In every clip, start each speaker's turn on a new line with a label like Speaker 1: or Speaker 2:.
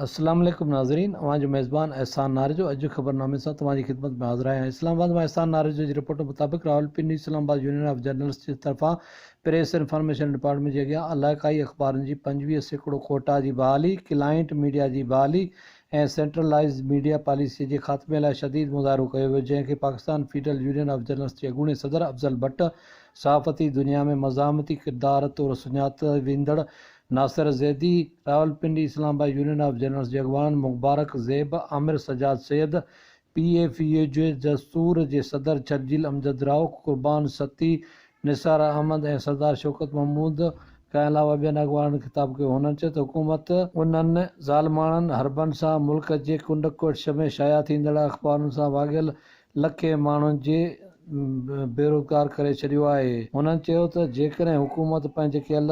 Speaker 1: اسلام عليڪم ناظرين اوهان جو ميزبان احسان ناريجو اڄ جي خبرنامي سان توهان جي خدمت ۾ حاضر آهيان اسلام آباد مان احسان ناريجو جي رپورٽ مطابق Rawalpindi Islamabad union of journalist جي طرفان پريس انفارميشن ڊپارٽمينٽ جي اڳيان علائقائي اخبارن جي پنجويهه سيڪڙو ڪوٽا جي بحالي ڪلائنٽ ميڊيا جي بحالي ۽ سينٽرلائيزڊ ميڊيا پاليسي جي خاتمي لاء شديد مظاهرو ڪيو ويو جنهن کي Pakistan federal union of journalist جي اڳوڻي صدر افضل بٽ صحافتي دنيا ۾ مزاحمتي ڪردار طور سڃاتو ويندڙ Nasir Zaidi, Rawalpindi, Islamabad union of journalists جي اڳواڻن Mubarak Zeb, Aamir Sajjad Syed, P F U J Dastoor جي صدر ڇرجيل امجد راء، قربان سھتي، نثار احمد ۽ سردار شوڪت محمود کان علاوه ٻين اڳواڻن خطاب ڪيو. ھنن چيو ته حڪومت، انھن ظالماڻن حربن سان ملڪ جي ڪنڊ ڪڙڇ ۾ شايع ٿيندڙ اخبارن سان واڳيل لکين ماڻهن جي بيروزگار ڪري ڇڏيو آهي. هنن چيو ته جيڪڏهن حڪومت پنهنجي ڪيل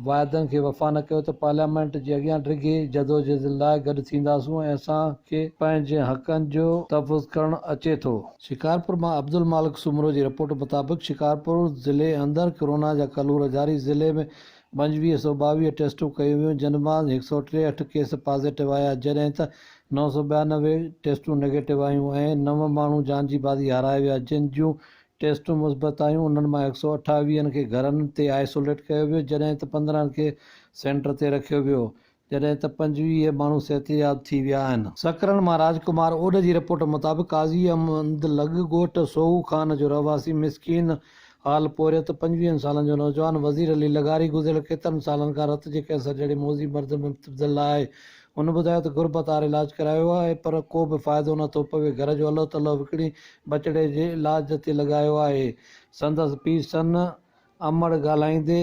Speaker 1: واعدن کي وفا نه ڪيو ته پارليامينٽ جي اڳيان ڊگهي جدوجهد لاء گڏ ٿينداسون ۽ اسان کي پنهنجن حقن جو تحفظ ڪرڻ اچي ٿو. شڪارپور مان عبدالمالڪ سومرو جي رپورٽ مطابق شڪارپور ضلعي اندر ڪورونا جا ڪلور جاري، ضلعي ۾ پنجويهه سؤ ٻاويهه ٽيسٽون ڪيون ويون جن مان هڪ سؤ ٽيهٺ ڪيس پازيٽو آيا جڏهن ته نو سؤ ٻيانوي ٽيسٽون نيگيٽو آيون ۽ نو ماڻهو جان جي بازي هارائي ويا جن جون ٽيسٽون مثبت آيون انهن مان هڪ سؤ اٺاويهن کي گهرن تي آئسوليٽ ڪيو ويو جڏهن ته پندرهن کي سينٽر تي رکيو ويو جڏهن ته پنجويهه ماڻهو صحتياب ٿي ويا آهن. سڪرنڊ مان راج ڪمار اوڏ جي رپورٽ مطابق قاضي احمد لڳ ڳوٺ سوهو خان جو رهواسي مسڪين حال پورهيت پنجويهن سالن جو نوجوان وزير علي لغاري گذريل ڪيترن سالن کان رت جي ڪينسر جهڙي موذي مرض ۾ مبتلا آهي هن ٻڌايو ته غربتار علاج ڪرايو آهي پر ڪوبه فائدو نه ٿو پوي گهر جو الهه تلهه وڪڻي ٻچڙي جي علاج تي لڳايو آهي سندس پيء سن امڙ ڳالهائيندي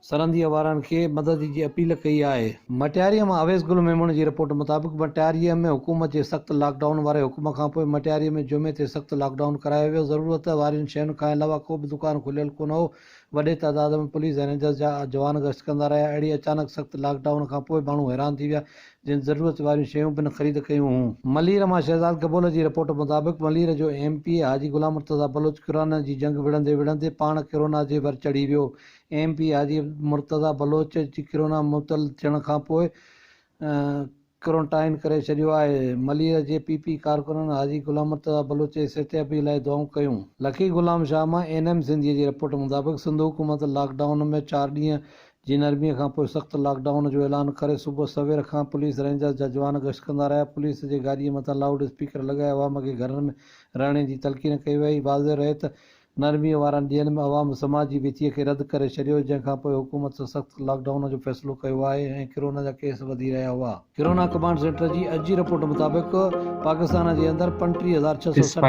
Speaker 1: سرهنديء وارن کي مدد جي اپيل ڪئي آهي. مٽياريء مان اويس گل ميمڻ جي رپورٽ مطابق مٽياريء ۾ حڪومت جي سخت لاڪ ڊائون واري حڪم کانپوء مٽياريء ۾ جمعي تي سخت لاڪ ڊائون ڪرايو ويو، ضرورت وارين شين کان علاوه ڪو به دڪان کليل ڪونه هو، وڏي تعداد ۾ پوليس ۽ رينجرز جا جوان گشت ڪندا رهيا، اهڙي اچانڪ سخت لاڪ ڊائون کانپوء ماڻهو حيران ٿي ويا، جن ضرورت واريون شيون پڻ خريد ڪيون هون. ملير مان شهزاد گبول جي رپورٽ مطابق ملير جو M P A Haji Ghulam Murtaza Baloch corona جي جنگ وڙهندي وڙهندي پاڻ ڪرونا جي ور چڙهي ويو، ايم پي حاجي مرتضيٰ بلوچ جي ڪرونا مبتل ٿيڻ کانپوء ڪورنٽائن ڪري ڇڏيو آهي، ملير جي پي پي ڪارڪنن حاجي غلام مرتضيٰ بلوچ جي صحتيابي لاء دعائون ڪيون. لکي غلام شاهه مان اين ايم سنڌيء جي رپورٽ مطابق سنڌ حڪومت لاڪ ڊائون ۾ چار ڏينهن جي نرمي کانپوء سخت لاڪ ڊائون جو اعلان ڪري صبح سوير کان پوليس رينجرز جا جوان گشت ڪندا رهيا پوليس جي گاڏي مٿان لائوڊ اسپيڪر لڳائي عوام کي گهرن ۾ رهڻي جي تلقين ڪئي وئي واضح رهي ته نرميء وارن ڏينهن ۾ عوام سماجي ويچيء کي رد ڪري ڇڏيو، جنهن کان پوء حڪومت سخت لاڪ ڊائون جو فيصلو ڪيو آهي ۽ ڪرونا جا ڪيس وڌي رهيا هئا. ڪرونا ڪمانڊ سينٽر جي اڄ جي رپورٽ مطابق پاڪستان جي اندر پنٽيهه هزار ڇهه سؤ سٺ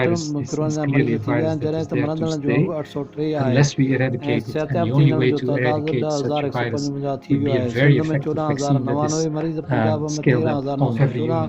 Speaker 1: ڪرونا جا مريض ٿي ويا آهن، جڏهن ته مرندڙن جو انگ اٺ سؤ ٽي آهي ۽ صحتياب ٿيندڙن جو تعداد ڏهه هزار هڪ سؤ پنجونجاهه ٿي ويو آهي. سنڌ ۾ چوڏهن هزار نوانوي مريض، پنجاب ۾ تيرهن هزار نو سؤ چوڏهن،